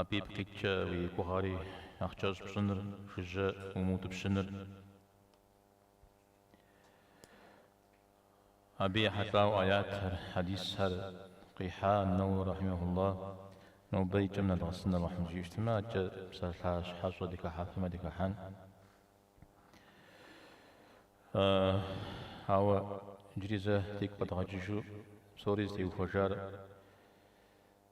Абы ипкъ иткӏэ уи гугъэри нэхъ кӏэщӏ пщӏыныр жыжьэ умыутӏыпщыныр. Абы ехьэлӏауэ аятхэр, хьэдисхэр къихьа Нэуауи рахьимэхулла, нобэ и кӏэм нэдгъэсын Алыхьым жиӏэу щытмэ, адэкӏэ псалъащхьэщӏэ дыхыхьэфмэ дыхыхьэн. Ауэ иджыри зэ дигу къэдгъэкӏыжу псори зытеухуэжар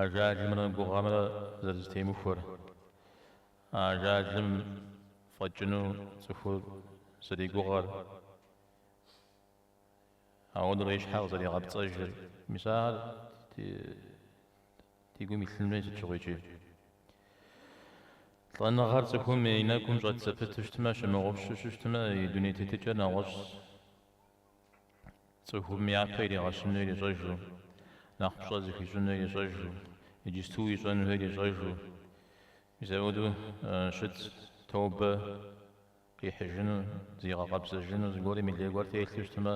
Ажалымрэ гугъэмрэ зэрызэтемыхуэр. Ажалым фӏэкӏыну цӏыхур зэригугъэр. Ауэдурэ и щхьэ къызэригъэпцӏэжыр. Мис ахэр ди гум илъын хуей сыт щыгъуи икӏи. Лӏэныгъэр цӏыхум и нэгум щӏэт зэпыту щытмэ, щымыгъупщэу щыщытмэ, и дуней тетыкӏэр нэгъуэщӏщ. Цӏыхум япэ иригъэщыну ирищӏэжу, нэхъ пщӏэ зыхуищӏыну ирищӏэжу, иджысту ищӏэнухэр ирищӏэжу, мис ауэду щыт тобэ къихьыжыну, зигъэкъэбзэжыну, зыгуэрым и лей гуэр телъу щытмэ,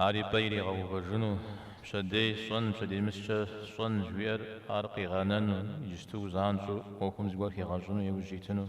ар и пӏэ иригъэувэжыну, пщэдей сщӏэн, пщэдеймыщкӏэ сщӏэн жыхуиӏэр ар къигъэнэну, иджысту занщӏэу ӏуэхум зыгуэр хигъэщӏыну иужь итыну.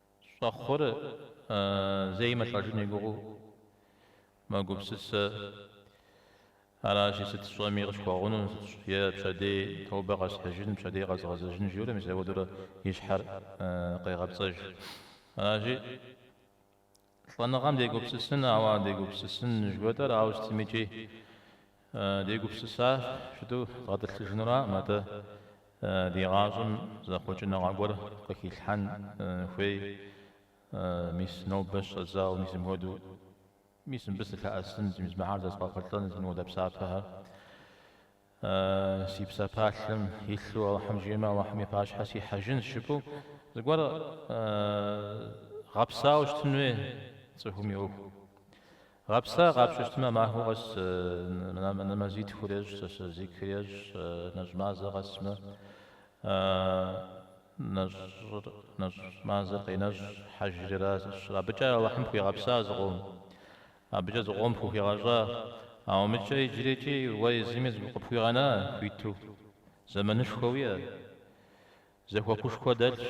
Щӏэхъур зэи мылӏэжын и гугъу мэгупсысэ. Аращи, сыт сщӏэми къысхуэгъуну, е пщэдей тобэ къэсхьыжын, пщэдей къэзгъэзэжын, жиӏэурэ мис ауэдурэ и щхьэр къегъэпцӏэж. Аращи. Лӏэныгъэм дегупсысын, ауэ дегупсысын жыхуэтӏэр ауэ сытмикӏи дегупсысащ, жытӏэу дгъэтӏылъыжынураӏым атӏэ ди гъащӏэм зэхъуэкӏыныгъэ гуэр къыхилъхьэн хуей, мис нобэ щӏэдзауэ, мис мыпхуэдэу, мис мыбы сылъэӏэсын, мис мыхэр зэзгъэхъулӏэн, мис мыуэдэ псапэхэр. Си псапалъэм илъу Алыхьым жиӏэмэ, Алыхьым и пащхьэ сихьэжынщ жыпӏэу зыгуэр гъэпсауэ щытын хуей цӏыхум и ӏуэху. Гъэпса, къапщтэу щытмэ, махуэ къэс нэмэзитхур ещӏ, сэсэ зикыр ещӏ, нэщӏ мазэ къэсмэ, нэщӏ мазэр къенэщӏ, хьэжри аращ. Абыкӏэ Алыхьым пхуигъэпса зыкъом. Абыкӏэ зыкъом фыхуигъэщӏа? Ауэ мыдкӏэ иджырикӏи уэ езыми зы къыпхуигъэна хуиту? Зэманышхуэ уиӏэ? Зэхуакушхуэ дэлъщ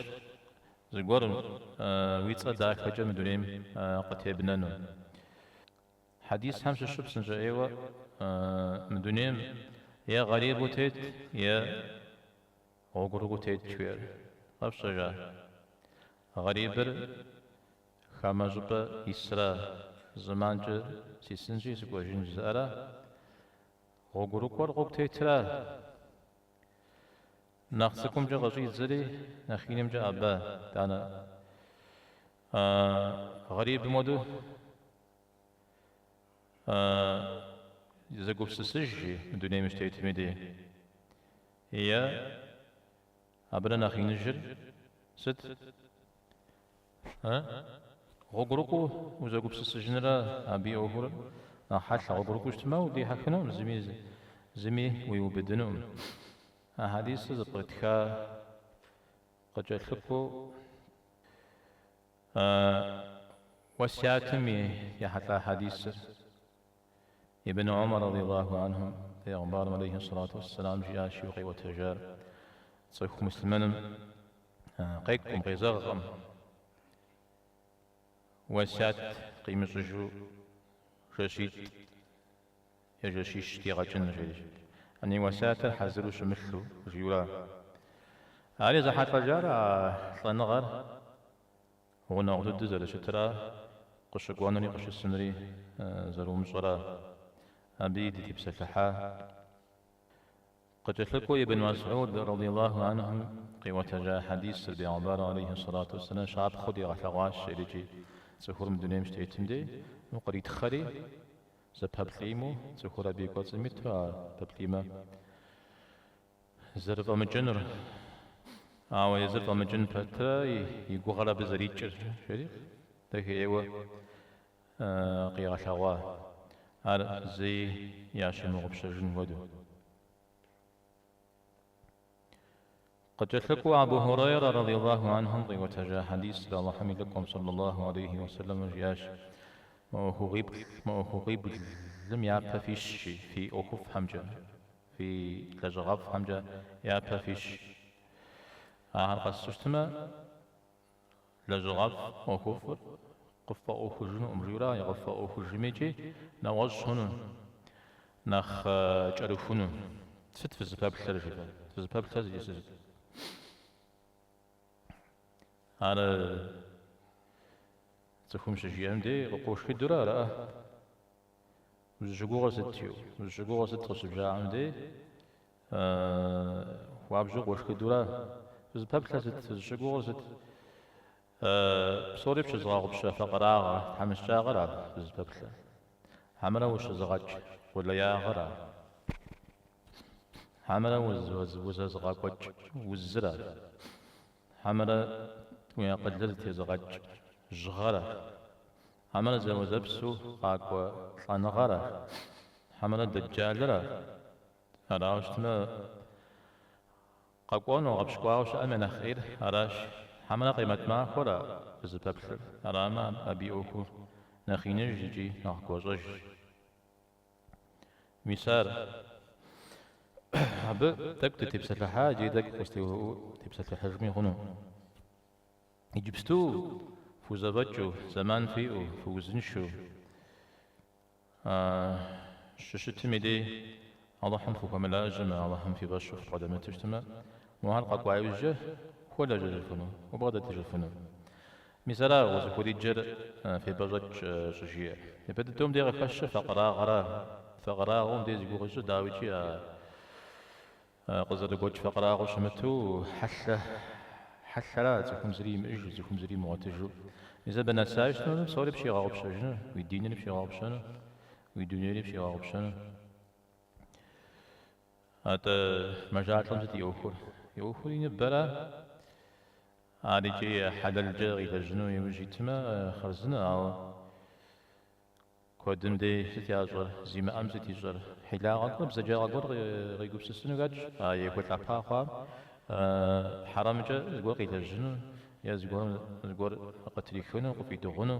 зыгуэр уи цӏэ дахэкӏэ мы дунейм къытебнэну. Хьэдисхэм щыщу псынщӏэ ӏейуэ мы дунейм е гъэрибу тет, е гъуэгурыкӏуу тет жыхуиӏэр къэфщӏэжа? Гъэрибыр Хамэ щӏыпӏэ исра, зэманкӏэ сисынщи сыкӏуэжын жызыӏэра? Гъуэгурыкӏуэр гъуэгу тетра? Нэхъ цӏыкӏумкӏэ къыщӏидзэри, нэхъ инымкӏэ абэ, данэ, гъэрибым хуэду зэгупсысыж жи, мы дунейм щытетым дей, е. Абырэ нэхъ иныжыр сыт? Э? Гъуэгурыкӏуэу узэгупсысыжынрэ абы и ӏуэхур нэхъ хьэлъэ, гъуэгурыкӏуэу ущытмэ, удихьэхынукъым, зыми зыми уиубыдынукъым. А хьэдисыр зэпкърытха, къыкӏэлъыкӏуэу уэсятым ехьэлӏа хьэдисыр Ибн Омар радыйаллаху анхум Пегъымбарым алейхи ссалату уэсселам жиӏащ жиӏу къиӏуэтэжар цӏыху муслъымэным къекӏукъым, къезэгъкъым, уэсят къимыщӏыжу жэщитӏ е жэщищ дигъэкӏыну жери. Ани уэсятыр хьэзыру щымылъу жиӏэу ара, ари зэхьэлӏэжар а лӏэныгъэр? Гъунэгъу дыдэу зэрыщытра, къыщыкӏуэнури къыщысынри зэрыумыщӏэра, абыи дытепсэлъыхьа. Къыкӏэлъыкӏуэу Ибн Мэсӏуд, радийаллаху анхум, къиӏуэтэжа хьэдисыр Бегъымбар алейхи сэлату уэсэлам щапхъэу дигъэлъэгъуащ икӏи, Цӏыхур мы дунейм щытетым дей, укъритхъэри, зэпэплӏиму, цӏыхур абы и кӏуэцӏым иту а пэплӏимэ, Зэрыфӏэмыкӏынур, ауэ езыр фӏэмыкӏын пэтрэ и гугъэр абы зэрикӏыр жери дахейуэ къигъэлъэгъуа, ар зэи ящымыгъупщэжын хуэдэу. Къыкӏэлъыкӏуэу Абу Хьурейрэ радийаллаху анхум къиӏуэтэжа хьэдисыр Алыхьым и Лӏыкӏуэм сэллаллаху алейхи ва сэлэм жиӏащ, Мы ӏуэхугъуи, мы ӏуэхугъуиблым япэ фищ жи, фи ӏуэхуфӏхэмкӏэ. Фи лэжьыгъэфӏхэмкӏэ япэ фищ. Ахэр къэсу щытмэ, лэжьыгъэфӏ ӏуэхуфӏыр къыффӏэӏуэхужынукъым, жиӏэу ара, къыффӏэӏуэхужмикӏи, нэгъуэщӏ хъуну, нэхъ кӏэрыхуну. Сыт фызыпэплъэр, жеӏэ? Фызыпэплъэр жеӏэ сыт? Ар цӏыхум щыжиӏэм дей къыпхуэшхыдурэ ара? Узыщыгугъыр сыт? жиӏэу. Узыщыгугъыр сыт? къыщыбжаӏэм дей, хуабжьу къошхыдэурэ, Фызыпэплъэр сыт? Фызыщыгугъыр сыт? Псори пщызыгъэгъупщэ факъырагъэ, тхьэмыщкӏагъэра фызыпэплъэр? Хьэмэрэ ущызыгъэкӏ къулеягъэра? Хьэмэрэ узэзыгъэкӏуэкӏ узыра? Хьэмэрэ уи акъылыр тезыгъэкӏ жьыгъэра? Хьэмэрэ зэуэзэпсу къакӏуэ лӏэныгъэра? Хьэмэрэ дэджалыра? Арауэ щытмэ, къэкӏуэну гъэпщкӏуауэ щыӏэм я нэхъ ӏейр аращ. Хьэмэрэ Къемэт махуэра фызыпэплъэр? Арамэ, абы и ӏуэхур нэхъ иныжщ икӏи нэхъ гуащӏэжщ. Мис ар абы тӏэкӏу дытепсэлъыхьа иджыри тӏэкӏу къыстеувыӏэу тепсэлъыхьыжми хъуну? Иджыпсту фхузэфӏэкӏыу, зэман фиӏэу, фыузыншэу щыщытым и дей Алыхьым фыхуэмылажьэмэ, Алыхьым фи фӏэщу фыбгъэдэмыту щытмэ, уэ ахэр къэкӏуа иужькӏэ ухуэлэжьэжыфыну, убгъэдэтыжыфыну. Мис ара узыхуриджэр фепӏэщӏэкӏ щӏыжиӏэр. Япэ дыдэу мыдей къыхэщыр факъырагъэра, факъырагъэу мыдей зи гугъу ищӏыр дауикӏи а Къызэрыгуэкӏ факъырагъэу щымыту, хьэлъэ хьэлъэра, цӏыхум зыри имыӏэжу, цӏыхум зыри имыгъуэтыжу. Мис абы нэсащ нобэ псори пщигъэгъупщэжыну, уи динри пщигъэгъупщэну, уи дунейри пщигъэгъупщэну. Атӏэ, мэжалӏэм сыт и ӏуэхур? И ӏуэхур и ныбэра? Ар иджы хьэлэлкӏэ къилэжьыну иужь итмэ, хъарзынэ, ауэ. Куэдым дей сыт ящӏэр? Зимыӏэм сыт ищӏэр? Хьилагъэ гуэр, бзаджагъэ гуэр къигупсысыну хэтщ а ехуэлӏапа хъуам, хьэрэмкӏэ зыгуэр къилэжьыну е зыгуэр къытрихыну, къыфӏидыгъуну,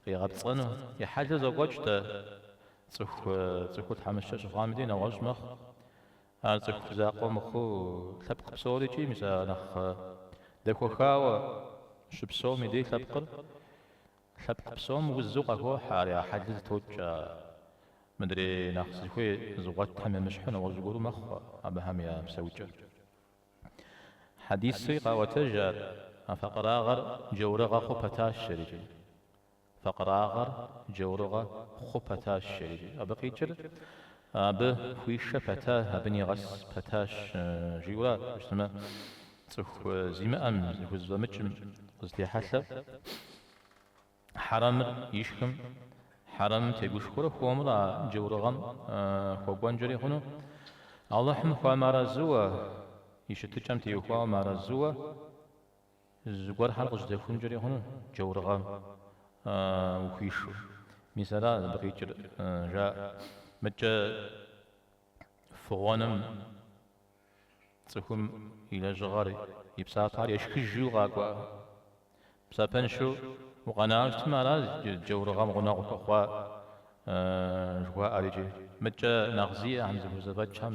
къигъэпцӏэну. И хьэлыр зокӏуэкӏ-тӏэ, цӏыхур тхьэмыщкӏэ щыхъуам дей нэгъуэщӏ мэхъу. Ар цӏыху закъуэ мыхъуу, лъэпкъ псорикӏи мис а нэхъ дэхуэхауэ щыпсэум и дей лъэпкъыр. Лъэпкъ псом узу къахохьэ ар я хьэлыр зэтокӏ. А мыдрей нэхъ зыхуей зыгъуэтхэм емыщхьу нэгъуэщӏ гуэру мэхъу абыхэм я псэукӏэр. Хьэдисуи къаӏуэтэж ар, а факъырагъэр джаурыгъэ хъу пэтащ жэрикӏи. Факъырагъэр джаурыгъэ хъу пэтащ жэрикӏи. Абы къикӏыр Абы хуишэ пэта, абы нигъэс пэтащ, жиӏэурэ щытмэ, цӏыху зимыӏэм, зыхузэфӏэмыкӏым къызытехьэлъэу, хьэрэмыр ишхым, хьэрэмым тегушхуэурэ хуэмурэ а джаурыгъэм хуэкӏуэнкӏэри хъуну, Алыхьым хуэмыарэзыуэ, и щытыкӏэм теухуауэ мыарэзыуэ Зыгуэрхэр къыздэхункӏэри хъуну джаурыгъэм ухуишэу? Мис ара абы къикӏыр, жаӏэ. Мыкӏэ фыгъуэным цӏыхум и лэжьыгъэр, и псапэхэр ешхыжу къакӏуэ. Псапэншэу укъэнауэ щытмэ, ара джаурыгъэм гъунэгъу хуэхъуа жыхуаӏэр икӏи? Мыкӏэ нэхъ зиӏэхэм зыхузэфӏэкӏхэм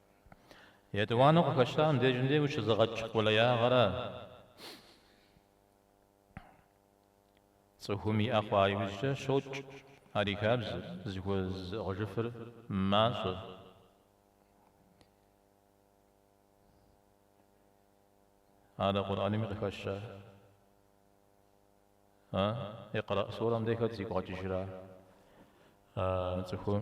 Етӏуанэу къыхэщтам дежым де ущызыгъэкӏ къулеягъэрэ цӏыхум иӏэ хъуа иужькӏэ щокӏ ар и хабзэр, зыхуэзыӏыгъыжыфыр мащӏэ. Ар Къурӏэнми къыхэща? А? Икърэӏ сурэм де хэт зигу къэкӏыжра мы цӏыхум?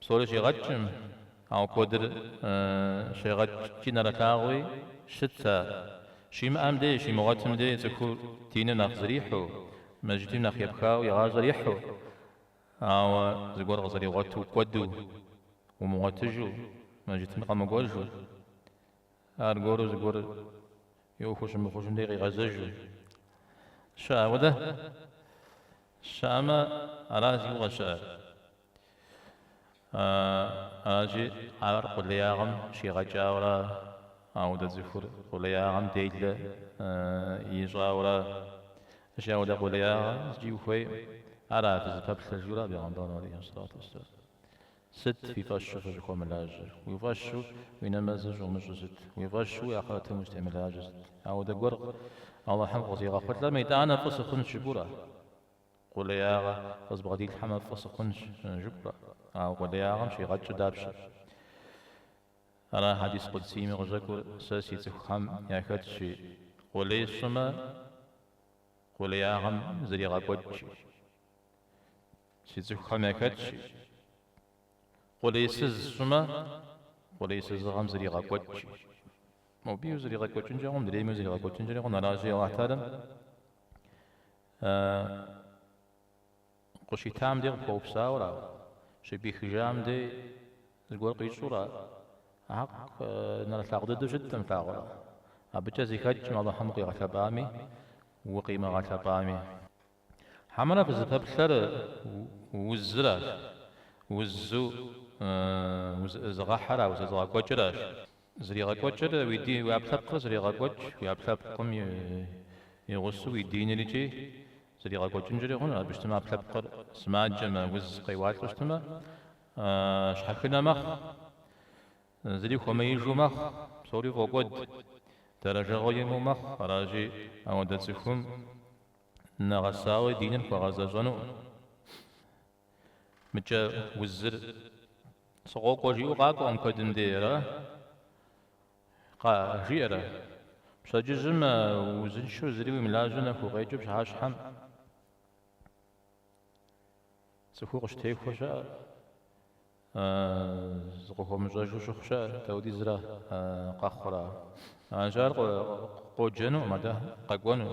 Псори щигъэкӏкъым, ауэ куэдыр щегъэкӏ икӏи нэрылъагъуи щыт ар. Щимыӏэм дей, щимыгъуэтым дей цӏыхур диныр нэхъ зрихьу, мыжьытим нэхъ епхауэ и гъащӏэр ихьу, ауэ зыгуэр къызэригъуэту кӏуэду, умыгъуэтыжу, мыжьытым къэмыкӏуэжу. Аргуэру зыгуэр и ӏуэху щымыхъужым дей къигъэзэжу щыӏэ, ауэдэ щыӏэмэ, ара зигу къыщыӏэр. Аращи, ар къулеягъэм щигъэкӏауэра, ауэдэ цӏыхур къулеягъэм делэ ищӏауэра, ащи ауэдэ къулеягъэ зыкӏи ухуей, ара фызыпэплъэ жиӏура Бегъэмбар алейхи салату уассалам. Сыт уи фӏэщу фыщӏыхуэмылажьэр? Уи фӏэщу уи нэмэзыр щӏумыщӏу сыт? Уи фӏэщу уи ахърэтым ущӏытемылажьэр сыт? Ауэдэ гуэр Алыхьым къызигъэхъулӏэм, итӏанэ фӏы сыхъунщ жыпӏура? Къулеягъэ къызбгъэдилъхьэмэ фӏы сыхъунщ жыпӏура? Ауэ къулеягъэм щигъэкӏыр дапщэ? Ара хьэдис къудсийми къыщӏэкӏур, Сэ си цӏыхухэм яхэтщи, къулей сщӏымэ, къулеягъэм зригъэкӏуэкӏ икӏи. Си цӏыхухэм яхэтщи. Къулейсыз сщӏымэ, къулейсызыгъэм зригъэкӏуэкӏ икӏи. Моби узригъэкӏуэкӏынкӏэ хъу, мыдрейми узригъэкӏуэкӏынкӏэри хъу, нтӏэ аращи Алыхьталэм къыщитам дей къыпхуэупсауэра, щыпӏихыжам дей зыгуэр къищӏура? Акъ, нэрылъагъу дыдэу щыткъым лъагъуэр. Абыкӏэ зэхэкӏкъым Алыхьым укъигъэлъэпӏами, укъимыгъэлъэпӏами. Хьэмэрэ фызыпэплъэр узыращ, узу узэӏызыгъэхьэра, узэзыгъэкӏуэкӏыращ. Зригъэкӏуэкӏыр уи дин, уи ӏэпкълъэпкъыр зрегъэкӏуэкӏ, уи ӏэпкълъэпкъым и гъусэу уи динрикӏи зригъэкӏуэкӏынкӏэри хъунущ. Абы щытмэ, ӏэпкълъэпкъыр сымаджэмэ, уз къеуалӏэу щытмэ, щхьэхынэ мэхъу, зыри хуэмеижу мэхъу, псори фӏокӏуэд, дэрэжэгъуэ имыӏэу мэхъу. Аращи, ауэдэ цӏыхум. нэгъэсауэ диныр хуэгъэзэщӏэнукъым. Икӏи узыр сыкъокӏуэ жиӏэу къакӏуэкъым куэдым дей, аракъэ? Жиӏэрэ? Пщэдджыжьым узыншэу зыри уимылажьэу нэху укъекӏыу пщыхьэщхьэм цӏыхур къыщытехуэ щыӏэ. Зыкъыхуэмыщӏэжу щыхъу щыӏэ, даудизрэ къэхъура? Аращи, ар къоджэнукъым атӏэ, къэкӏуэну.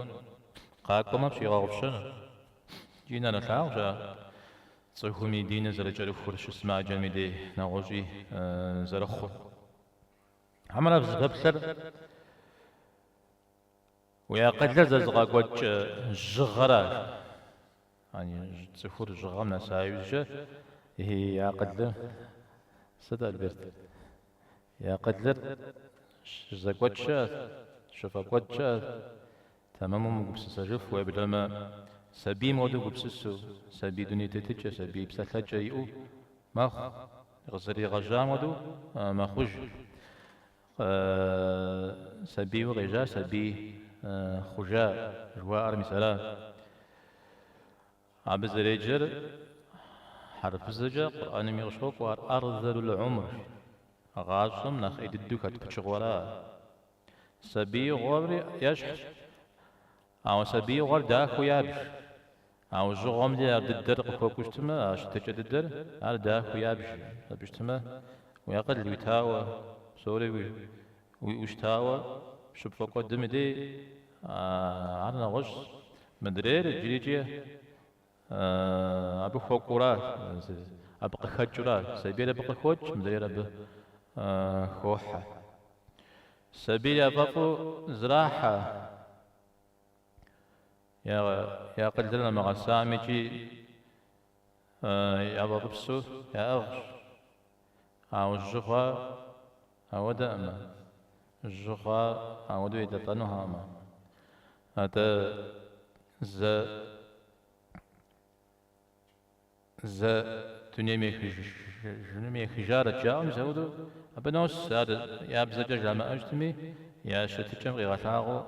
Къакӏуэмэ, пщигъэгъупщэну. Икӏи нэрылъагъущ ар цӏыхум и диныр зэрыкӏэрыхур, щысымаджэм и дей нэгъуэщӏи зэрыхъур. Хьэмэрэ фызыпэплъэр? Уи акъылыр зэзыгъэкӏуэкӏ жьыгъэра? Яни, цӏыхур жьыгъэм нэса иужькӏэ и акъылыр сыт, Альберт? И акъылыр щызэкӏуэкӏкӏэ, щыфӏэкӏуэдкӏэ, тэмэму мыгупсысэжыфу, уеблэмэ, сабийм хуэдэу гупсысу, сабий дуней тетыкӏэ, сабий псалъэкӏэ иӏэу мэхъу, къызэригъэжьам хуэдэу мэхъуж. Сабийуэ къежьа, сабий хъужа жыхуаӏэр мис ара. Абы зэреджэр хьэрыпыбзэкӏэ Къурӏэнми къыщокӏуэ, ар ӏэрзэлул ӏумр, гъащӏэм нэхъ ӏей дыдэу хэт пычыгъуэра. Сабиигъуэри ещхьщ, Ауэ сабиигъуэр дахэу ябж. Ауэ жьыгъуэм дей ар дыдэр къыхуэкӏуэу щытмэ, а щытыкӏэ дыдэр, ар дахэу ябж, абы щытмэ, уи акъыл уитауэ, псори уиӏэу щытауэ, щыпфӏэкӏуэдым дей, ар нэгъуэщӏщ. Мыдрейр иджырикӏи Абы хуэкӏуэура, абы къыхэкӏыура? Сабийр абы къыхокӏ, мыдрейр абы хохьэ. Сабийр яфӏэфӏу зэрахьэ я акъылыр нэмыгъэсамикӏи яфӏэфӏыпсу яӏыгъщ. Ауэ жьы хъуар ауэдэӏымэ, жьы хъуар ауэдэу едэлӏэнухэкъымэ. Атӏэ зэ, зэ дунейм ехыжарэт жаӏэм зэуду абы нос, ар я бзэкӏэ жамыӏэжтми, я щытыкӏэм къигъэлъагъуэу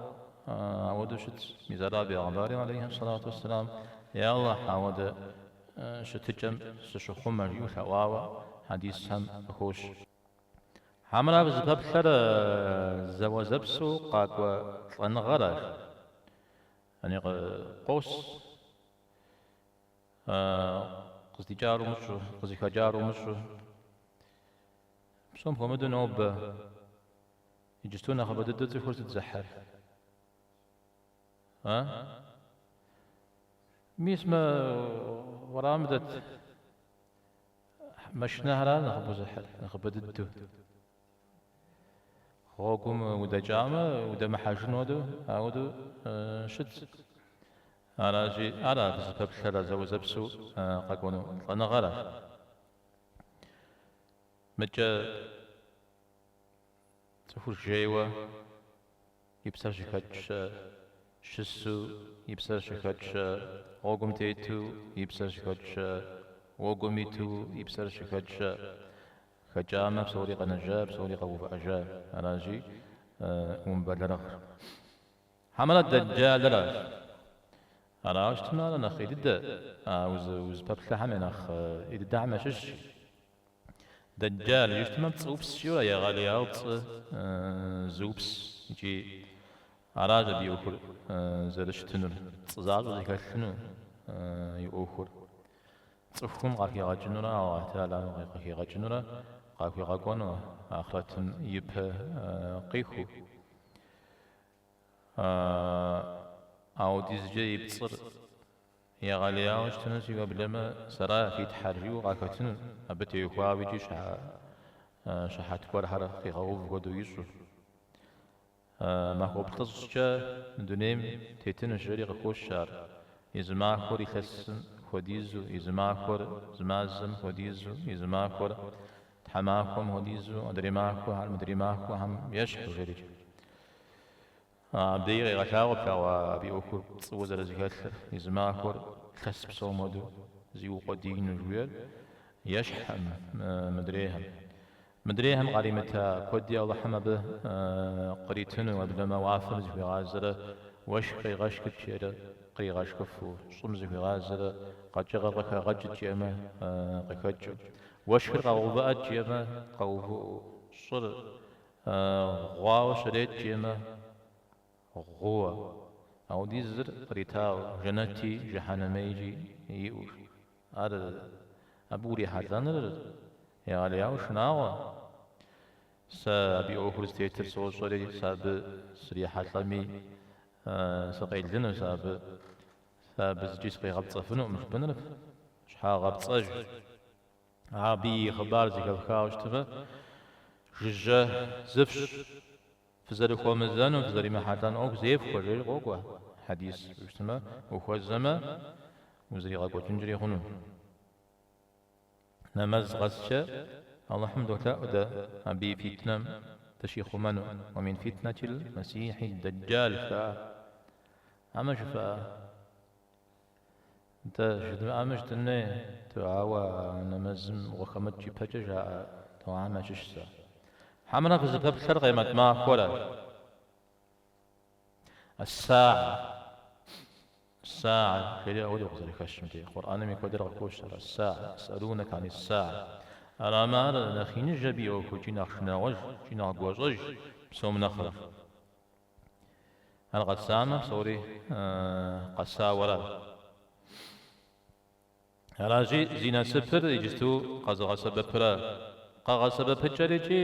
ауэдэу щытщ, мис ара Бегъымбари, алейхи салату уссалам, Йа Аллахь, ауэдэ щытыкӏэм сыщыхъумэ, жиӏэу лъэӏуауэ хьэдисхэм къыхощ. Хьэмэрэ абы зыпэплъэр зэуэзэпсэу къакӏуэ лӏэныгъэращ, яни къос, къыздикӏар умыщӏу, къызыхэкӏар умыщӏу. Псом хуэмыдэу нобэ иджысту нэхъыбэ дыдэу цӏыхур сыт зыхьыр? А? Мис мы уэрамым дэт машинэхэращ нэхъыбэу зыхьыр, нэхъыбэ дыдэу. Гъуэгум удэкӏамэ, удэмыхьэжыну ауэдэу щытщ. Аращи, ара дызыпэплъэр зэуэзэпсэу къэкӏуэну лӏэныгъэра? Мыкӏэ цӏыхур жейуэ. и псэр щыхэкӏщэ, щысу, и псэр щыхэкӏщэ, гъуэгум тету, и псэр щыхэкӏщэ, гъуэгум иту, и псэр щыхэкӏщэ. Хэкӏамэ, псори къэнэжа, псори къэувыӏэжа. Аращи, умыбэлэрыгъыр. Хьэмэрэ Дэджалращ. Аращтмэ, ар нэхъ ӏей дыдэ, узыпэплъэхэм я нэхъ ӏей дыдэхэм ящыщщ. Дэджал жытӏэмэ пцӏыупсышхуэра, егъэлеяуэ пцӏы зыупс икӏи аращ абы и ӏуэхур зэрыщытынур, пцӏы защӏэ зэхэлъыну и ӏуэхур. Цӏыхум къахигъэкӏынурэ Аллахь Тхьэлам къыхигъэкӏынурэ къахуигъэкӏуэну ахърэтым ипэ къихуэу. Ауэдизкӏэ и пцӏыр Егъэлеяуэ щытынущи уеблэмэ, сэра фи Тхьэр, жиӏэу къахэтыну, абы теухуауэ икӏи щыхьэт гуэрхэр къигъэув хуэдэу ищӏу. Махуэ плӏыщӏкӏэ дунейм тетыну, жери къыхощ ар, и зы махуэр илъэсым хуэдизу, и зы махуэр зы мазэм хуэдизу, и зы махуэр тхьэмахуэм хуэдизу, адрей махуэхэр мыдрей махуэхэм ещхьу, жери. Абдеи къегъэлъагъуэт, ауэ абы и ӏуэхур пцӏыуэ зэрызэхэлъыр, езы махуэр лъэс псом хуэдэу зиукъуэдиину жиӏэр ещхькъым мыдрейхэм. Мыдрейхэм къаримыта куэди Алыхьым абы къритыну, уеблэмэ уафэм зыхуигъазэрэ уэшх къегъэшхыт жиӏэрэ къригъэшхыфу, щӏым зыхуигъазэрэ къэкӏыгъэр къыхэгъэкӏыт жиӏэмэ къыхэкӏыу, уэшхыр къэгъэувыӏэт жиӏэмэ къэувыӏэу, щӏыр Гъуауэ щрет жиӏэмэ, гъууэ. Апхуэдизыр къритауэ, жэнэти жыхьэнми икӏи иӏэу. Ар абы урихьэлӏэныр егъэлеяуэ шынагъуэ. Сэ абы и ӏуэхур зытетыр сощӏэри, сэ абы срихьэлӏэми, сыкъелынущ. Сэ абы зыкӏи сыкъигъэпцӏэфынукъым, жыпӏэныр щхьэгъэпцӏэжщ. Абы и хъыбар зэхэфхауэ щытмэ, жыжьэ зыфщ, фызэрыхуэмызэну, фызэримыхьэлӏэн ӏуэху зефхуэ, жери къокӏуэ хьэдис. Ущытмэ, ухуэзэмэ, узэригъэкӏуэкӏынкӏэри хъуну. Нэмэз къэскӏэ Алыхьым долъэӏу дэ абы и фитнэм дыщихъумэну, уэ мин фитнэтил Мэссихьи Дэджал жыхуаӏэр. Амэ жыфӏа? Нтӏэ, жыдмыӏэми жытӏэн хуей, дуауэ нэмэзым ухэмыкӏ ипэкӏэ жаӏэ дуахэм ящыщ сэ. Хьэмэрэ фызыпэплъэр къемэт махуэра? Ас-сагьэ, ас-сагьэ, жери апхуэдэу къызэрыхэщымти, Къурӏэнми куэдрэ къыхощыр, ас-сагьэ, есӏэлунэкэ ани-ссагьэ. Арамэ ар нэхъ иныж абы и ӏуэху икӏи нэхъ шынагъуэж, икӏи нэхъ гуащӏэж псом нэхърэ. Ар къэсамэ, псори къэсауэра. Аращи, зи насыпыр иджыту къэзыгъэсэбэпыра. Къэгъэсэбэпыкӏэр икӏи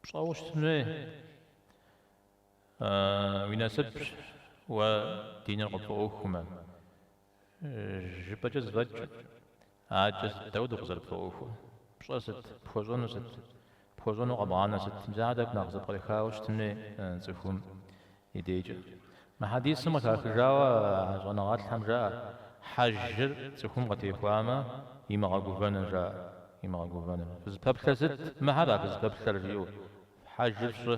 пщӏэуэ щытын хуей. Уи насыпщ уэ диныр къыпфӏэӏуэхумэ. Жыпӏэкӏэ зэфӏэкӏ, адэкӏэ сыт дапхуэдэу къызэрыпфӏэӏуэхур? Пщӏэ сыт? Пхуэщӏэну сыт? Пхуэщӏэну къэбгъанэ сыт? Мис ахэр тӏэкӏу нэхъ зэпкърыхауэ щытын хуей цӏыхум и дейкӏэ. Мы хьэдисым къыхахыжауэ а щӏэныгъэлӏхэм жаӏэ, Хьэжыр цӏыхум къытехуамэ, имыгъэгувэну жаӏэ, имыгъэгувэну. Фызыпэплъэр сыт? Мыхэра фызыпэплъэр, жиӏэу, Хьэжыр фщӏы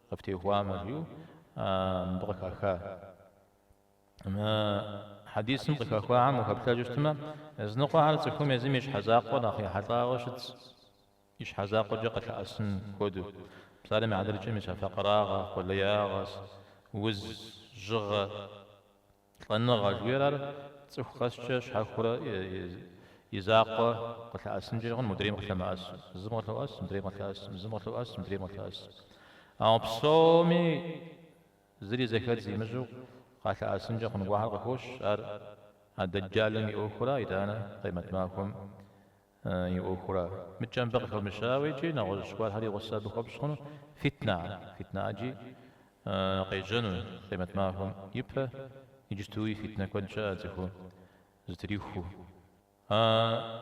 къыфтехуамэ, жиӏэу мыбы къыхаха. Мы хьэдисым къыхэхуахэм ухэплъэжыщтмэ, языныкъуэхэр цӏыхум езым и щхьэ закъуэ нэхъ ехьэлӏауэ щытщ, и щхьэ закъуэкӏэ къылъэӏэсын хуэдэу. Псалъэм и хьэтыркӏэ мис а факъырагъэ, къулеягъэ, уз, жьыгъэ, лӏэныгъэ жыхуиӏэр ар цӏыху къэскӏэ щхьэхуэурэ и закъуэ къылъэӏэсынкӏэ хъун, мыдрейм къылъэмыӏэсу. Зым къылъоӏэс, мыдрейм къылъэӏэс, зым къылъоӏэс, мыдрейм къылъэӏэс. Ауэ псоми Зыри зэхэдз имыщӏу къалъэӏэсынкӏэ хъун гуэрхэр къыхощ ар а дэджалым и ӏуэхурэ итӏанэ Къемэт махуэм и ӏуэхурэ. Мыкӏэ мыбы къыхэмыщауэ икӏи нэгъуэщӏ гуэрхэри гъусэ абы хуэпщӏ хъуну, фитнэ, фитнэ ӏэджи къежьэну Къемэт махуэм ипэ, иджыстуи фитнэ куэд щыӏэ цӏыхуу зытриху. А.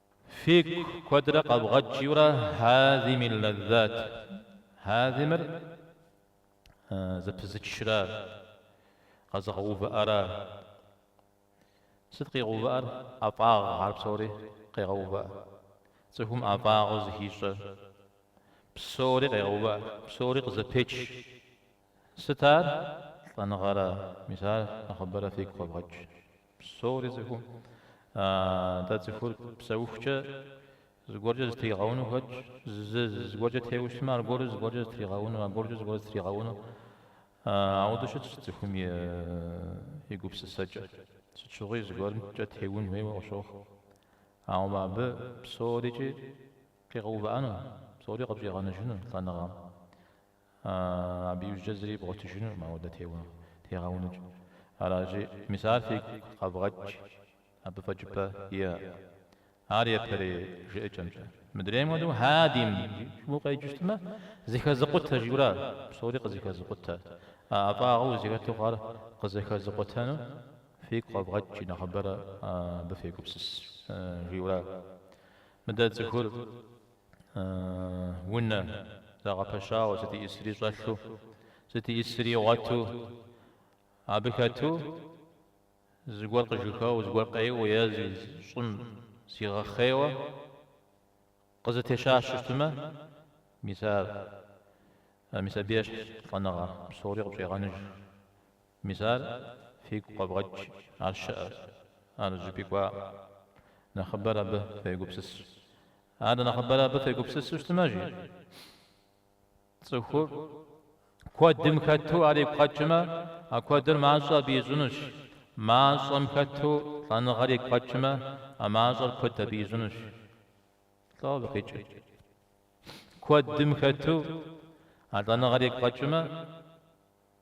Фигу куэдрэ къэвгъэкӏыурэ Хьэзимил лэззат. Хьэзимыр зэпызычра, къэзыгъэувыӏэра? Сыт къигъэувыӏэр? ӏэфӏагъ ар псори къегъэувыӏэ. Цӏыхум ӏэфӏагъыу зыхищӏэ псори къегъэувыӏэ, псори къызэпеч. Сыт ар? Лӏэныгъэра, мис ар нэхъыбэрэ фигу къэвгъэкӏ. Псори цӏыхум. Аа, дэ цӏыхур псэухукӏэ зыгуэркӏэ зытригъэуну хэтщ, зы зыгуэркӏэ теуэ щытмэ, аргуэру зыгуэркӏэ зытригъэуну, аргуэрукӏэ зыгуэру зытригъэуну. Аа, ауэдэу щытщ цӏыхум и гупсысэкӏэ. Сыт щыгъуи зыгуэрымкӏэ теун хуейуэ къыщохъу. Ауэ абы псорикӏи къигъэувыӏэну, псори къыпщӏигъэныжыну лӏэныгъэм. Абы иужькӏэ зыри бгъуэтыжынукъым ауэдэу теуэ тегъэунукӏ. Аращи, мис ар фигу къэвгъэкӏ, абы фӏэкӏыпӏэ иӏэкъым. Ар япэрей жыӏэкӏэмкӏэ. Мыдрейм хуэдэу хьэдим жиӏэу укъеджэщтмэ, зэхэзыкъутэ жиӏэурэ ар псори къызэхэзыкъутэ. А ӏэфӏагъыу узыхэту хъуар къызэхэзыкъутэну фигу къэвгъэкӏ, нэхъыбэрэ абы фегупсыс, жиӏэурэ мыдэ цӏыхур Унэ, зэгъэпэщауэ, сыт и ӏисри щӏэлъу, сыт и ӏисри игъуэту, абы хэту, зыгуэр къыжьэхэуэу, зыгуэр къеуэу е щӏым зигъэхъейуэ къызэтещащэ щытмэ, мис ар, мис абы ещхь лӏэныгъэ псори къыпщӏегъэныж. Мис ар фигу къэвгъэкӏ, ар щыӏэщ, ар зыщӏыпӏи кӏуакъым. Нэхъыбэрэ абы фегупсыс. Ар нэхъыбэрэ абы фегупсысу щытмэ, жи, цӏыху куэдым хэту ар игу къэкӏмэ, а куэдыр мащӏэ абы ищӏынущ, мащӏэм хэту лӏэныгъэр игу къэкӏмэ, а мащӏэр куэд абы ищӏынущ. Лӏо абы къикӏыр. Куэдым хэту а лӏэныгъэр игу къэкӏмэ,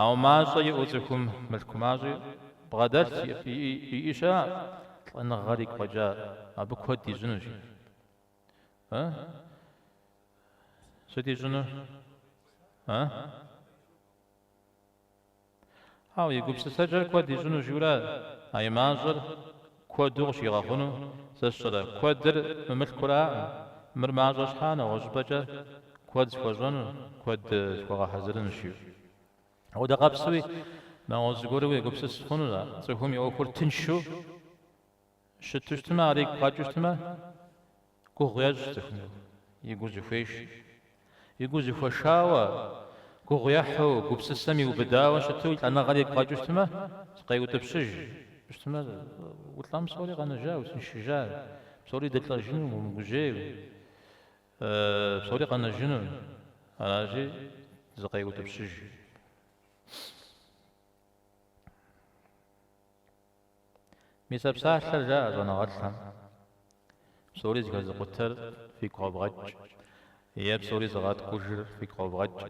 Ауэ мащӏэ иӏэу цӏыхум мылъку мащӏи бгъэдэлъ иӏи щыӏэкъым, лӏэныгъэр игу къэкӏам абы куэд ищӏынущ. Э? Сыт ищӏыну? Э? Ауэ и гупсысэкӏэр куэд ищӏыну жиӏэу ара? А и мащӏэр Куэду къыщигъэхъуну зищӏрэ? Куэдыр мы мылъкуракъым, мыр мащӏэ щхьа нэгъуэщӏыпӏэкӏэ куэд схуэщӏэну, куэд схуэгъэхьэзырынущи. Апхуэдэ къэпсуи, нэгъуэщӏ зыгуэру уегупсыс хъуну? Цӏыхум и ӏуэхур тыншу щыту щытмэ, ар игу къэкӏыу щытмэ? Гугъу ехь цӏыхум и гур зыхуеш, и гур зыхуэшауэ, гугъу ехьу, гупсысэм иубыдауэ щыту лӏэныгъэр игу къэкӏыу щытмэ, зыкъеутӏыпщыж щытмэ, улӏэм псори къэнэжа, упсэншыжа, псори дылӏэжыну умыгужьей, псори къэнэжыну, аращи, зыкъеутӏыпщыж. Мис а псалъэр жаӏэ щӏэныгъэлӏхэм, Псори зыхэзыкъутэр фигу къэвгъэкӏ, е Псори зыгъэткӏужыр фигу къэвгъэкӏ,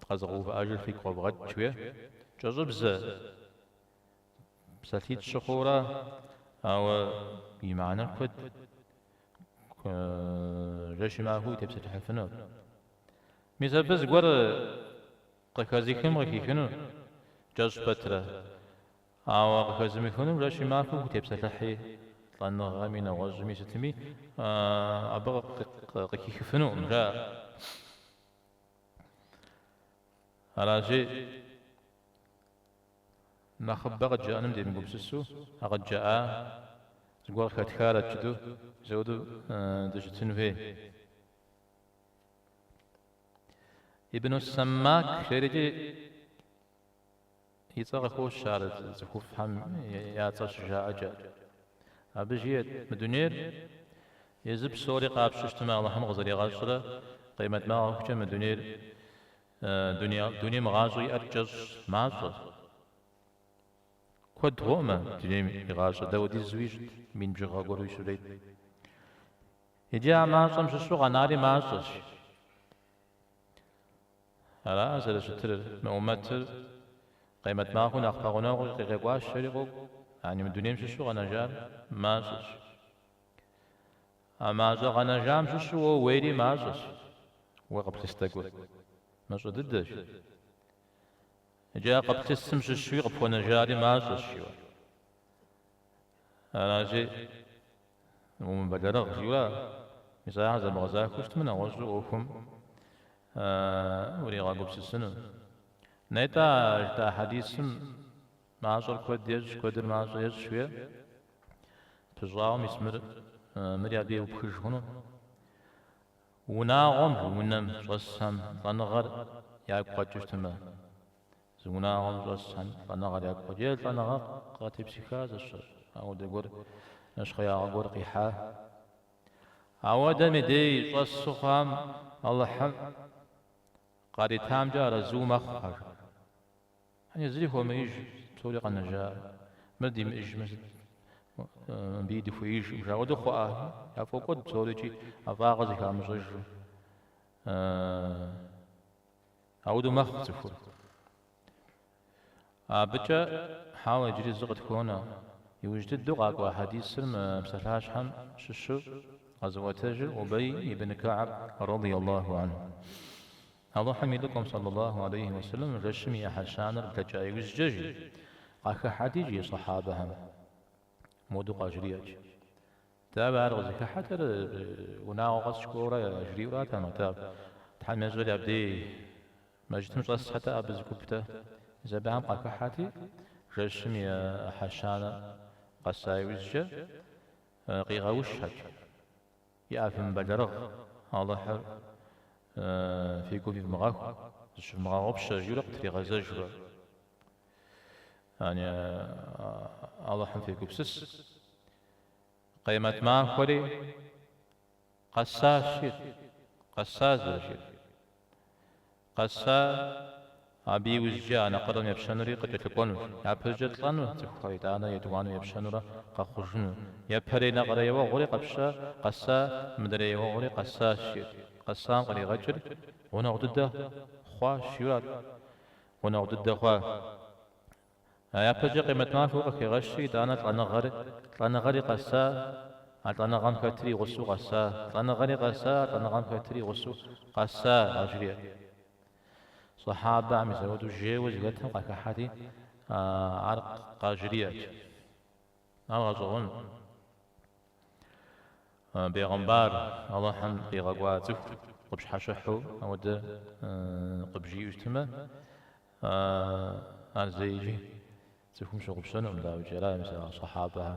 къэзыгъэувыӏэжыр фигу къэвгъэкӏ, жиӏэ. Кӏэщӏыбзэ, псалъитӏ щыхъура, ауэ и мыхьэнэр куэд, жэщи махуи утепсэлъыхьыфыну. Мис абы зыгуэр къыхэзыхым къыхихынур кӏэщӏ пэтрэ. Ауэ къыхэзымыхынум жэщи махуи тепсэлъыхьи, лӏэныгъэми нэгъуэщӏми сытми, абы къыхихыфынукъым, жаӏэ. Аращи, нэхъыбэ къыджаӏэным демыгупсысу, а къыджаӏа зыгуэр къыхэтхарэт жытӏэу, ауэдэу дыщытын хуей. Ибну Саммак жери икӏи. И цӏэ къыхощ ар цӏыхуфӏхэм я цӏэ щыжаӏэкӏэ. Абы жиӏэт, Мы дунейр езы псори къапщу щытмэ, Алыхьым къызэригъэщӏрэ къемэт махуэ хъухукӏэ мы дунейр, дунейм гъащӏэ иӏэр кӏэщӏ мащӏэ. Куэд гугъэми, дунейм и гъащӏэ дапхуэдизуи щрет, мин бжыгъэ гуэруи щрет. Иджы а мащӏэм щыщу къэнари мащӏэщ. Ара зэрыщытыр, мы умэтыр? Къемэт махуэ нэхъ пэгъунэгъуу къыкъуэкӏащ жери къокӏу, яни мы дунейм щыщу къэнэжар мащӏэщ. А мащӏэ къэнэжам щыщу уэ уейри мащӏэщ, уэ къыплъыс тӏэкӏур мащӏэ дыдэщ. Иджы а къыплъысым щыщуи къыпхуэнэжари мащӏэщ, жиӏэ. Аращи. Умыбэлэрыгъ, жиӏэу мис ахэр зэбгъэзахуэу щытмэ, нэгъуэщӏу ӏуэхум уригъэгупсысыну. Нетӏэ, а жытӏа хьэдисым мащӏэр куэд ещӏ, куэдыр мащӏэ ещӏ жиӏэу пыщӏауэ, мис мыр, мыри абы еупхыж хъуну. Унагъуэм, унэм, щӏэсхэм лӏэныгъэр ягу къэкӏыу щытмэ. Зы унагъуэм щӏэс лӏэныгъэр ягу къэкӏ е лӏэныгъэ къатепсыха зэщыр, ауэдэ гуэр нэщхъеягъэ гуэр къихьа. Ауэдэ мыдей щӏэс сыхъуам Алыхьым къаритамкӏэ арэзыу мэхъухэр. Ани зыри хуэмеиж, псори къэнэжа, мыр димыӏыжмэ сыт, мыбыи дыхуеижкъым жаӏэ хуэдэу хъуа, яфӏокӏуэд псори икӏи ӏэфӏагъыр зыхамыщӏэжу. Ауэдэу мэхъу цӏыхур. Абыкӏэ, хьэуэ, иджыри зы къытхуонэ. Иужь дыдэу къакӏуа хьэдисыр мы псалъащхьэм щыщу къэзыӏуэтэжыр Убей ибн Кааб рады Аллаху анху. Алыхьым и Лӏыкӏуэм сэллэ Аллаху алейхи уэ сэлэм жэщым и ӏыхьэ щанэр блэкӏа иужькӏэ жи, къахыхьэт икӏи и сахьабэхэм. Моду къажриӏэт. Дауэ ар къызыхыхьэтыр, унагъуэ къэс кӏуэурэ яжриӏэу аратэкъым, атӏэ, Тхьэм ещӏэр абдей мэжытым щӏэсхэт е абы зы гупт е сахьабэм къахыхьэти, жэщым и ӏыхьэ щанэ къэса иужькӏэ къигъэушхэт, ей фымыбэлэрыгъ, Алыхьыр фи гум ивмыгъэху, зыщывмыгъэгъупщэ, жиӏэурэ къытригъэзэжурэ. Ани, Алыхьым фегупсыс. Къемэт махуэри къэсащ жеӏэр, къэса зэрыжиӏэр. Къэса, абы иужькӏэ а нэкъырэм епщэнури къыкӏэлъыкӏуэну, япэщӏыкӏэ лӏэну цӏыхухэр итӏанэ етӏуанэу епщэнурэ къэхъужыну. Япэрей нэкъырэ еуэгъуэри къэпща, къэса, мыдрей еуэгъуэри къэсащ жеӏэр. Къэсам къригъэкӏыр гъунэгъу дыдэ хъуащ, жиӏэу арат. Гъунэгъу дыдэ хъуа. Япэкӏэ къемэт махуэ къыхегъэщи, итӏанэ лӏэныгъэр, лӏэныгъэри къэса, а лӏэныгъэм хэтыр и гъусэу къэса, лӏэныгъэри къэса, а лӏэныгъэм хэтыр и гъусэу къэса, къажриӏэт. Сахьабэм мис ауэдэу жейуэ зыхэтым къахыхьэти, ар къажриӏэт. Ар гъэщӏэгъуэнт. Бегъымбар Алыхьым къигъэкӏуа цӏыху къыпщхьэщыхьу ауэдэ къыбжиӏэу щытмэ, ар зэикӏ цӏыхум щыгъупщэнукъым, дауикӏи, ара мис а сахьабэхэм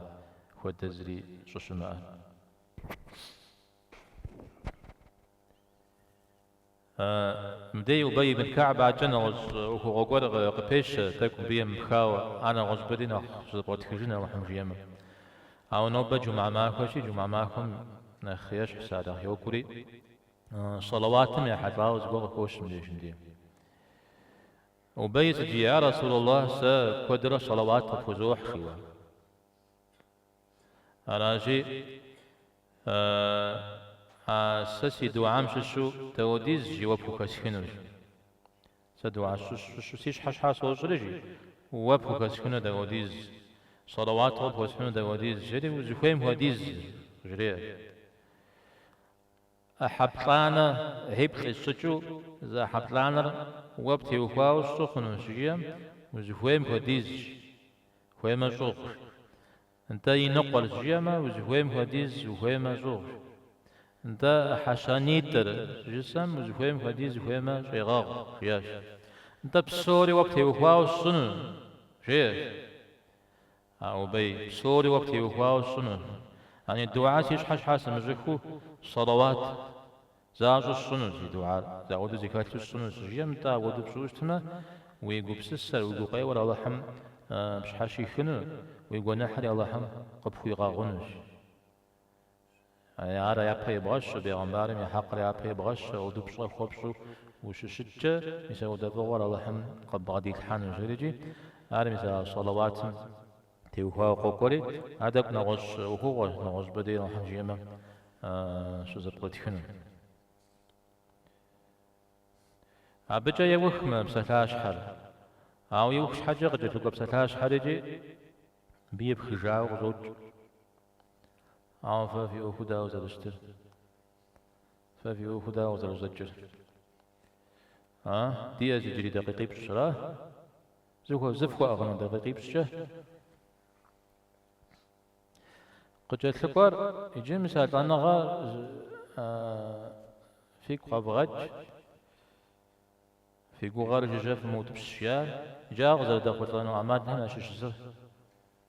хуэдэ зыри щӏыщымыӏэр. Мыбдеж Убей ибн Кааб акӏэ нэгъуэщӏ ӏуэхугъуэ гуэр къыпещэ, тӏэкӏу мыбы емыпхауэ, ар нэгъуэщӏыпӏэри нэхъ щызэпкърытхыжын Алыхьым жиӏэмэ. Ауэ нобэ джумыӏэ махуэщи, джумыӏэ махуэм нэхъ ещхь сэ Алыхь йокӏури, сэлэуатым ехьэлӏауэ зыгуэр къыхощ мыбдеж мыбдеж. Убей иджы, Я Расул Аллах, сэ куэдрэ сэлэуат къыпхузохь, жиӏэу. Аращи, а сэ си дуӏам щыщу дапхуэдиз жи уэ пхухэсхынущ. Сэ дуӏа щыщу си щхьэ щхьа сощӏри жи, уэ пхухэсхыну дапхуэдиз, сэлэуат къыпхуэсхьыну дапхуэдиз, жери, узыхуейм хуэдиз, жреӏэ. ӏыхьэ плӏанэ ӏыхьиплӏ къисщӏыкӏыу зы ӏыхьэ плӏанэр уэ птеухуауэ сщӏы хъуну, щыжиӏэм, узыхуейм хуэдизщ, хуеймэ щӏыгъу. Нтӏэ иныкъуэр, щыжиӏэмэ, узыхуейм хуэдиз, ухуеймэ щӏыгъу. Нтӏэ ӏыхьэ щанитӏыр, щыжысӏэм, узыхуейм хуэдиз, ухуеймэ щӏегъэгъу, жиӏащ. Нтӏэ псори уэ птеухуауэ сщӏыну, жеӏэщ. А Убей, псори уэ птеухуауэ сщӏыну? Яни, дуӏа си щхьэ щхьа сымыщӏыхыу, сэлэуат защӏу сщӏыну, зи дуӏар зауэдэ зыхэлъу сщӏыну, щыжиӏэм, нтӏэ, апхуэдэу пщӏыуэ щытмэ, уи гупсысэр, уи гукъеуэр Алыхьым пщхьэщихыну, уи гуэныхьри Алыхьым къыпхуигъэгъунущ. Ар япэ ебгъэщу, бегъымбарым и хьэкъыр япэ ебгъэщу, апхуэдэу пщӏэ хуэпщӏу ущыщыткӏэ, мис апхуэдэ фӏыгъуэр Алыхьым къыббгъэдилъхьэнущ, жери икӏи, ар мис а сэлэуатым теухуауэ къокӏуэри, ар тӏэкӏу нэгъуэщӏ ӏуэхугъуэщ, нэгъуэщӏыпӏэ дей Алыхьым жиӏэмэ щызэпкърытхыну. Абыкӏэ еух мы псалъащхьэр. Ауэ иух щхьэкӏэ къыкӏэлъыкӏуэ псалъащхьэр икӏи абы епхыжауэ къыщӏокӏ. Ауэ фэ фи ӏуэху дауэ зэрыщытыр? Фэ фи ӏуэху дауэ къызэрыщӏэкӏыр? А, диӏэщ иджыри дакъикъипщӏ-щра? Зыхуэ, зыфхуэӏыгъыну дакъикъипщӏкӏэ? Къыкӏэлъыкӏуэр иджы мис а лӏэныгъэ фигу къэвгъэкӏ, фи гугъэр жыжьэ фымыутӏыпщ, жаӏэр. Иджы ар къызэрыдэхъулӏэну ӏэмалхэм ящыщ зы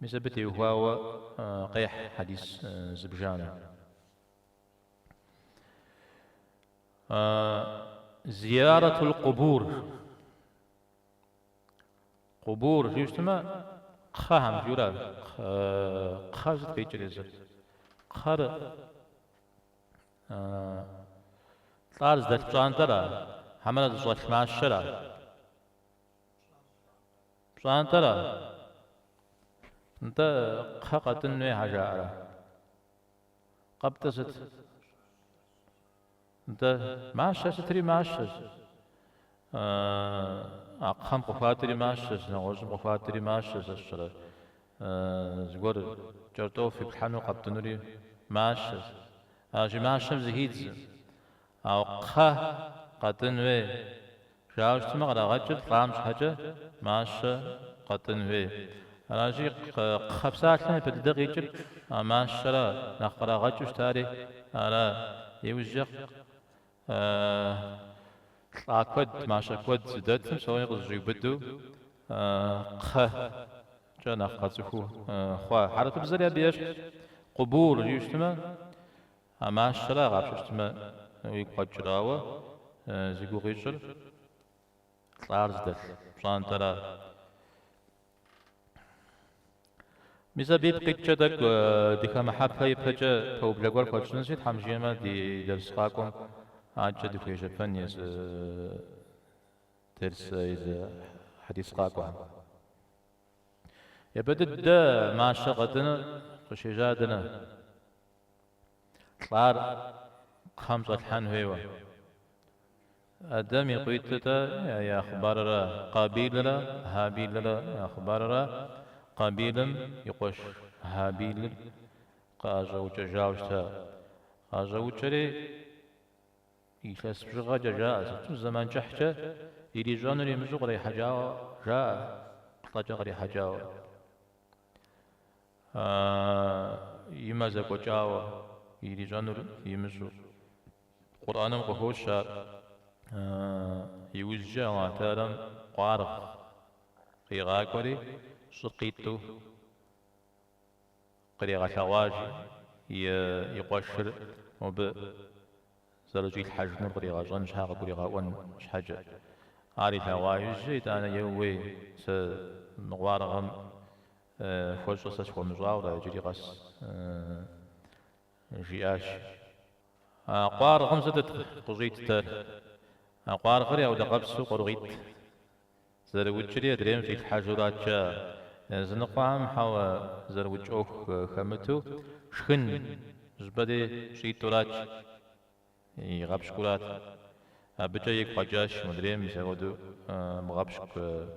Мис абы теухуауэ къехь хьэдис зыбжанэ. Зияратул къубур. Къубур жиӏэу щытмэ, кхъэхэм жиӏэурэ кхъэ сыт къикӏыр езыр. Кхъэр лӏар зыдэлъ пщӏантӏэра, хьэмэрэ зыщӏэлъ мащэра? Пщӏантӏэра. Нтӏэ, кхъэ къэтӏын хуей щхьэ жаӏэрэ? Къэптӏыр сыт? Нтӏэ, мащэ сытри мащэщ. А кхъэм къыхуатӏри мащэщ, нэгъуэщӏым къыхуатӏри мащэщ, сэ сщӏэрэ? Зыгуэр кӏэртӏоф иплъхьэну къэптӏынури мащэщ. Аращи мащэм зыхидзэ. Ауэ кхъэ къэтӏын хуей жаӏэу щытмэ, кърагъэкӏыр лӏам щхьэкӏэ мащэ къэтӏын хуей. Аращи, кхъэ псалъэм япэ дыдэ къикӏыр мащэра, нэхъ кърагъэкӏыу щытари ара. Иужькӏэ лӏа куэд, мащэ куэд зыдэтым псори къызэщӏиубыдэу кхъэкӏэ нэхъ къэцӏыхуу хъуа. Хьэрыпыбзэри абы ещхьщ. Къубур жиӏэу щытмэ. А мащэра агъапщэщтмэ уигу къэкӏыр, ауэ зи гугъу ищӏыр лӏар зыдэлъ пщӏантӏэра? Мис абы ипкъ иткӏэ тӏэкӏу дыхэмыхьэпэ ипэкӏэ пэублэ гуэр хуэтщӏынщи, Тхьэм жиӏэмэ ди дерс къакӏуэм акӏэ дыхуежьэпэн езы дерс, езы хьэдис къакӏуэхэм. Япэ дыдэ мащэ къэтӏыныр къыщежьар дэнэ? Лӏар кхъэм щӏэлъхьэн хуейуэ. Адэм и къуитӏытэ я хъыбарра, Къабилрэ Хьабилрэ я хъыбарра. Къабилым и къуэш Хьабилыр къыӏэщӏэукӏэжауэ щыта. Къыӏэщӏэукӏэри, илъэс бжыгъэкӏэ жаӏэ, сыту зэман кӏыхькӏэ ирищӏэнур имыщӏэу кърихьэкӏауэ жаӏэ, плӏэкӏэ кърихьэкӏауэ. и мэ зэкӏуэкӏауэ ирищӏэнур имыщӏэу. Къурӏэным къыхощ ар. Иужькӏэ Алыхьталэм къуаргъ къигъакӏуэри, щӏыр къитӏу къригъэлъэгъуащ и къуэшыр мобы. зэрыщӏилъхьэжынур къригъэщӏэн щхьэ къыгуригъэӏуэн щхьэкӏэ. Ар илъэгъуа иужь, итӏанэ еууей, сэ мы къуаргъым хуэщӏэ сэ схуэмыщӏауэрэ иджыри къэс, жиӏащ. А къуаргъым сытыт къыщӏитӏтэр? А къуаргъыри апхуэдэ къабзэу, къуаргъитӏ Зэрыукӏри адрейм щӏилъхьэжурат жаӏэ, языныкъуэхэм хьэуэ зэрыукӏ ӏуэху хэмыту шхын жьбэри щӏитӏурат, игъэпщкӏурат. Абыкӏэ игу къэкӏащ модрейм мис апхуэдэу мыгъэпщкӏу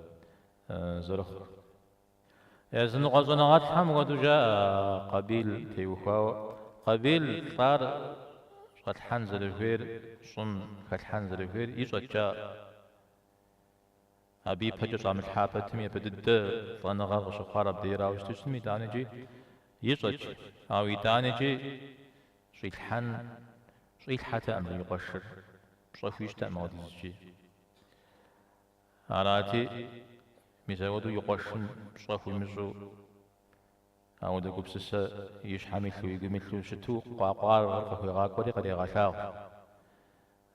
зэрыхъу. Языныкъуэ щӏэныгъэлӏхэм хуэдэу жаӏэ Къабил теухуауэ. Къабил лӏар щӏэлъхьэн зэрыхуейр, щӏым хэлъхьэн зэрыхуейр ищӏэт жаӏэ. Абы ипэкӏэ щӏамылъхьа пэтми япэ дыдэ лӏэныгъэр къыщыхъуар абдеирауэ щыту щытми, итӏаникӏи ищӏэкӏ. Ауэ итӏаникӏи щӏилъхьэн щӏилъхьэтэӏым зым и къуэшыр, пщӏэ хуищӏтэӏым ауэдизкӏи. Арати, мис ауэдэу и къуэшым пщӏэ хуимыщӏу, ауэдэ гупсысэ и щхьэм илъу, и гум илъу щыту къуа къуаргъыр къыхуигъакӏуэри къырегъэлъагъу.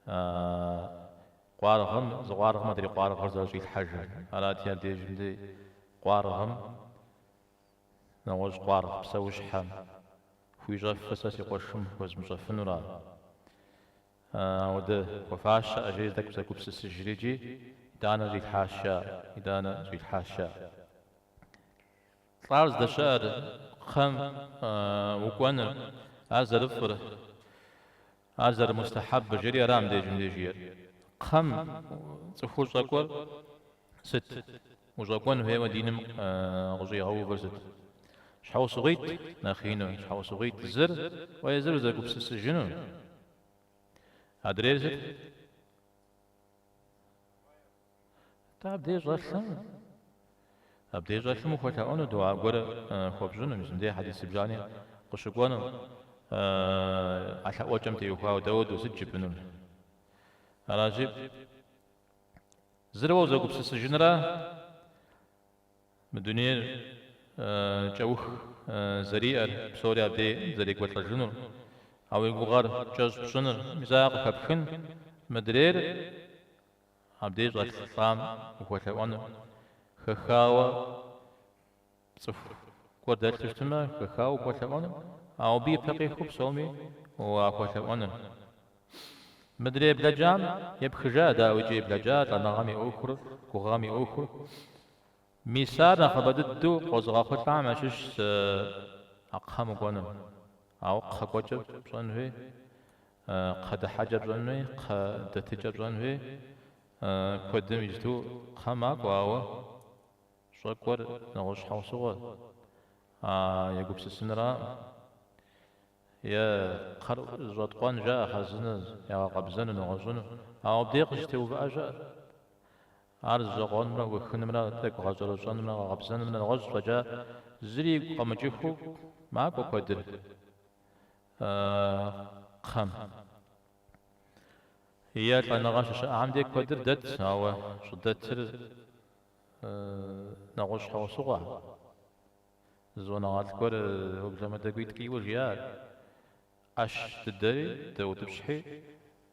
А къуаргъым, зы къуаргъым адрей къуаргъыр зэрыщӏилъхьэжыр. Арати, абдежым дей къуаргъым, нэгъуэщӏ къуаргъ псэущхьэм, хуищӏэфыр сэ си къуэшым хуэзмыщӏэфынура? Ауэдэ хуэфащэӏэ, жери тӏэкӏу зэгупсысыжрикӏи, Итӏанэ щӏилъхьащ жаӏэ, итӏанэ щӏилъхьащ жаӏэ. Лӏар здэщыӏэр, кхъэм укӏуэныр, ар зэрыфӏыр. Ар зэрымустахьэб жери ара мыбдежым деж жиӏэр? Кхъэм, цӏыху щӏэкӏуэр сыт? Ущӏэкӏуэн хуейуэ диным къыщӏигъэувыр сыт? Щхьэусыгъуитӏ, нэхъ ину, щхьэусыгъуитӏ зыр уэ езыр узэгупсысыжыну адрейр сыт? Атӏэ абдей щӏэлъым? Абдей щӏэлъым ухуэлъэӏуэну дуа гуэрэ хуэпщӏыну, мис мыдей хьэдис зыбжани къыщыкӏуэну, а лъэӏуэкӏэм теухуауэ дауэдэу сыт жыпӏэнур? Аращи, зыр уэ узэгупсысыжынра мы дунейр кӏэух зэриӏэр, псори абдей зэрекӏуэлӏэжынур, а уи гугъэр кӏэщӏ пщӏыныр, мис ар къыхэпхын мыдрейр. Абдеж щӏэлъ лӏам ухуэлъэӏуэну хэхауэ пцӏыху гуэр дэлъу щытмэ, хэхауэ ухуэлъэӏуэну, ауэ абы ипэ къихуэу псоми уахуэлъэӏуэну. Мыдрей блэкӏам епхыжа дауикӏи блэкӏа лӏэныгъэм и ӏуэхур, гугъэм и ӏуэхур. Мис ар нэхъыбэ дыдэу къозыгъэхъулӏам ящыщщ а кхъэм укӏуэным. Ауэ кхъэкӏуэкӏыр пщӏэн хуей, кхъэ дыхьэкӏэ пщӏэн хуей, кхъэ дэтыкӏэ пщӏэн хуей куэдым иджыту кхъэ макӏуэ, ауэ щӏэкӏуэр нэгъуэщӏ щхьэусыгъуэ, а егупсысынраӏым. Е кхъэр зэщӏэткъуэн жаӏэ, хъэзынэ ягъэкъэбзэну, нэгъуэщӏыну, ауэ абдей къыщытеувыӏэжа. Ар зэщӏэкъуэнымрэ ухынымрэ тӏэкӏу гъэщӏэрэщӏэнымрэ гъэкъэбзэнымрэ нэгъуэщӏ щӏэкӏа зыри игу къэмыкӏыххэу макӏуэ куэдыр. кхъэм. Е лӏэныгъэ щыщыӏам де куэдыр дэт, ауэ щӏыдэтыр нэгъуэщӏ щхьэусыгъуэ. Зонэгъуэлӏ гуэр уэблэмэдэкӏуитӏ кӏийуэ жиӏат. ӏэщ дыдэри дэутӏыпщхьи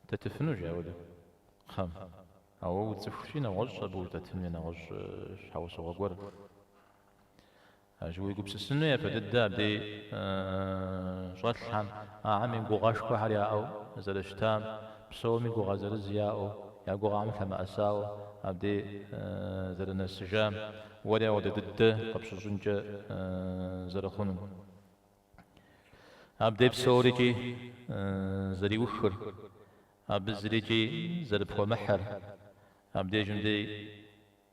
дэтыфыну жаӏэу кхъэм. Ауэ уцӏыхущи, нэгъуэщӏ абы ущӏыдэтын нэгъуэщӏ щхьэусыгъуэ гуэр. Аращ уегупсысыну япэ дыдэ абдей щӏэлъхэм, ахэм и гугъэшхуэхэр яӏэу зэрыщытам, псоми гугъэ зырыз яӏэу, я гугъэхэм лъэмыӏэсауэ абдей зэрынэсыжам, уэри апхуэдэ дыдэ къыпщыщӏынкӏэ зэрыхъунум. Абдей псорикӏи зэриухыр, абы зырикӏи зэрыпхуэмыхьыр, абдежым дей.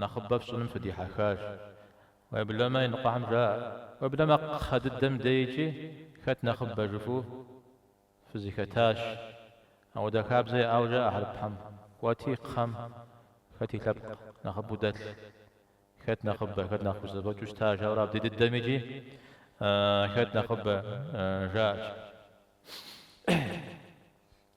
Нэхъыбэ фщӏыным фыдихьэхащ. Уеблэмэ, иныкъуэхэм жаӏэ, уеблэмэ кхъэ дыдэм дэ икӏи хэт нэхъыбэ жыфӏу фызэхэтащ. Апхуэдэ хабзэ яӏауэ жаӏэ хьэрыпхэм, Кӏуэти кхъэм хэт и лъэпкъ нэхъыбэу дэлъ, хэт нэхъыбэ, хэт нэхъ зэфӏэкӏыу щытащ, ауэрэ абдей дыдэм икӏи хэт нэхъыбэ жаӏэщ.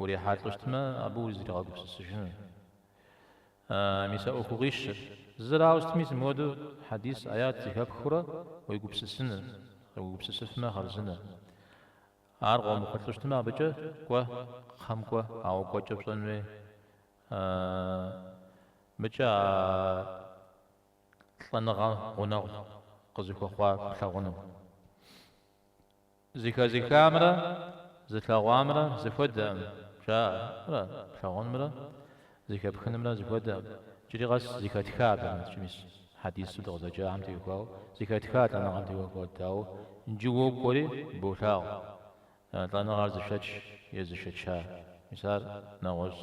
Урихьэлӏэу щытмэ, абы узэригъэгупсысыжынур. Мис а ӏуэху къищӏыр. Зызэрауэ сытми, сымыуэдэу хьэдис, аят зэхэпхыурэ уегупсысыныр, уегупсысыфмэ, хъарзынэ. Ар къыумыхъулӏэу щытмэ, абыкӏэ кӏуэ, кхъэм кӏуэ, ауэ кӏуэкӏэ пщӏэн хуей. Абыкӏэ а лӏэныгъэм гъунэгъу къызыхуэхъуа плъагъуну. Зэхэзыхамрэ зылъэгъуамрэ зэхуэдэкъым, жаӏэрэ плъэгъунымрэ зэхэпхынымрэ зэхуэдэкъым. Иджыри къэс зэхэтха, абыкӏэ мис хьэдисыр дыкъызэджахэм теухуауэ, зэхэтха лӏэныгъэм теухуауэ, дауэ иджы уэ уокӏуэри болъагъу лӏэныгъэр зышэч е зышэча, мис ар нэгъуэщӏщ.